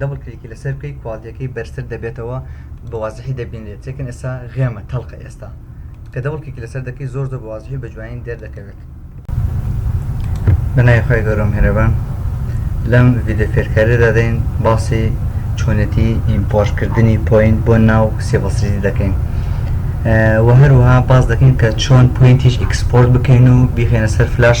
دەبڵ کلیکی لەسەر بکەی کواڵتیەکەی بەرزتر دەبێتەوە بە وازحی دەبینرێت چێکن ئێستا غێمە تەڵقە ئێستا کە دەبڵ کلیکی لەسەر دەکەی زۆر زۆر بە وازحی بە جوانی دەردەکەوێت بەناوی خۆی گەورە و میهرەبان لەم ڤیدیۆ فێرکاریە دادەین باسی چۆنێتی ئیمپۆرتکردنی پوینت بۆ ناو سیڤڵ سریزی دەکەین و هەروها باس دەکەین کە چۆن پوینتیش ئیکسپۆرت بکەین و بیخێنە سەر فلاش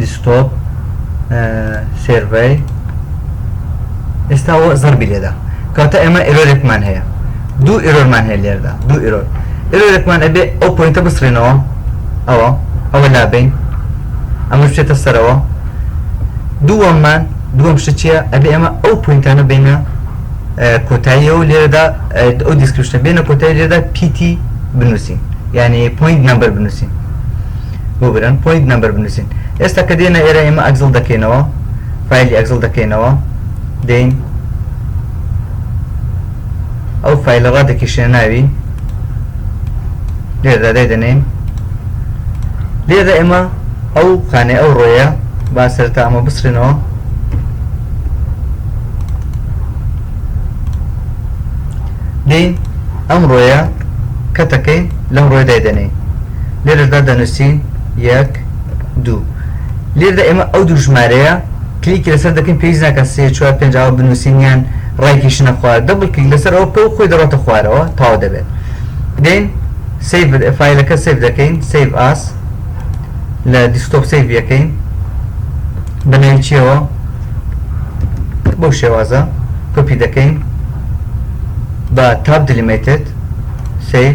دیسکتۆپ سێرڤەی ئێستا زەربی لێدا کەوتە ئێمە ئێرۆرێکمان هەیە دوو ئێرۆرمان هەیە لێردا دوو ئێرۆر ئێرۆرێکمان ئەبێ ئەو پوینتە بسرێنەوە ئەوە ئەوە لابین ئەمە بچێتە سەرەوە دووەممان دووەم شتە ئەبێ ئێمە ئەو پوینتانە بینە کۆتاییەوە لێرەدا ئەو دیسکشتە بێنە کۆتای لێرەدا پیتی بنووسین یعنی پوینت نمبر بنووسین بۆ برن پۆینت نەمبەر بنوسین ئێستا کە دێنە ئێرە ئێمە ئەگزڵ دەکەینەوە فایلی ئەگزڵ دەکەینەوە دێین ئەو فایلە ڕا دەکیشێ ناوی لێردا دای دەنێین لێرە ئێمە ئەو خانێ ئەو ڕۆیە با سەرتا ئەمە بسرێنەوە دێین ئەم ڕۆیە کەتەکەین لەم ڕۆی دای دەنێین لێرەشدا دەنوسین یەک دوو لێردا ئێمە ئەو دوو ژمارەیە کلیکی لەسەر دەکەین پێویست ناکات سێ چوار پێنج ئاوا بنوسین یان ڕایکیشنە خوار دەبڵ کلیک لەسەر ئەوە بکە و خۆی دەڕۆتە خوارەوە تەواو دەبێت دێین سیڤ فایلەکە سیڤ دەکەین سیڤ ئاس لە دیسکتۆپ سیڤ یەکەین بە ناوی چیەوە بەو شێوازە کۆپی دەکەین بە تاب دلیمێتت سیڤ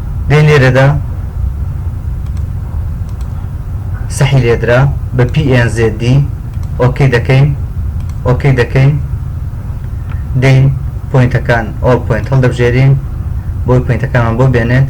دەی لێرەدا سەحی لێدرا بە pnzd ئۆکەی دەکەین ئۆکەی دەکەین دەین پوینتەکان ئۆڵ پوینت هەڵدەبژێرین بۆی پوینتەکانمان بۆ بێنێت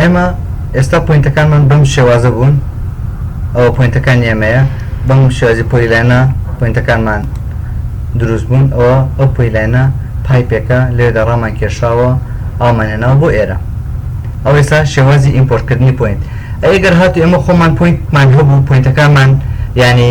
ئێمە ئێستا پوینتەکانمان بەم شێوازە بوون ئەوە پوینتەکان ئێمەیە بەم شێوازی پۆیلانە پوینتەکانمان دروست بوون ئەوە ئەو پۆیلانە پایپێکە لێدا ڕامان کێشاوە ئامانێناوە بۆ ئێرە ئەو ئێستا شێوازی ئیمپۆرتکردنی پوینت ئەگەر هاتو ئێمە خۆمان پوینتمان هەبوو پوینتەکانمان یعنی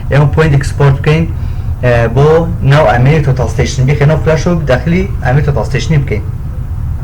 ئێمە پۆینت ئێکسپۆرت بکەین بۆ ناو ئامێری تۆتاڵ ستەیشن بیخەینەوە فلاشەوە داخلی ئامێری تۆتاڵ ستەیشنی بکەین.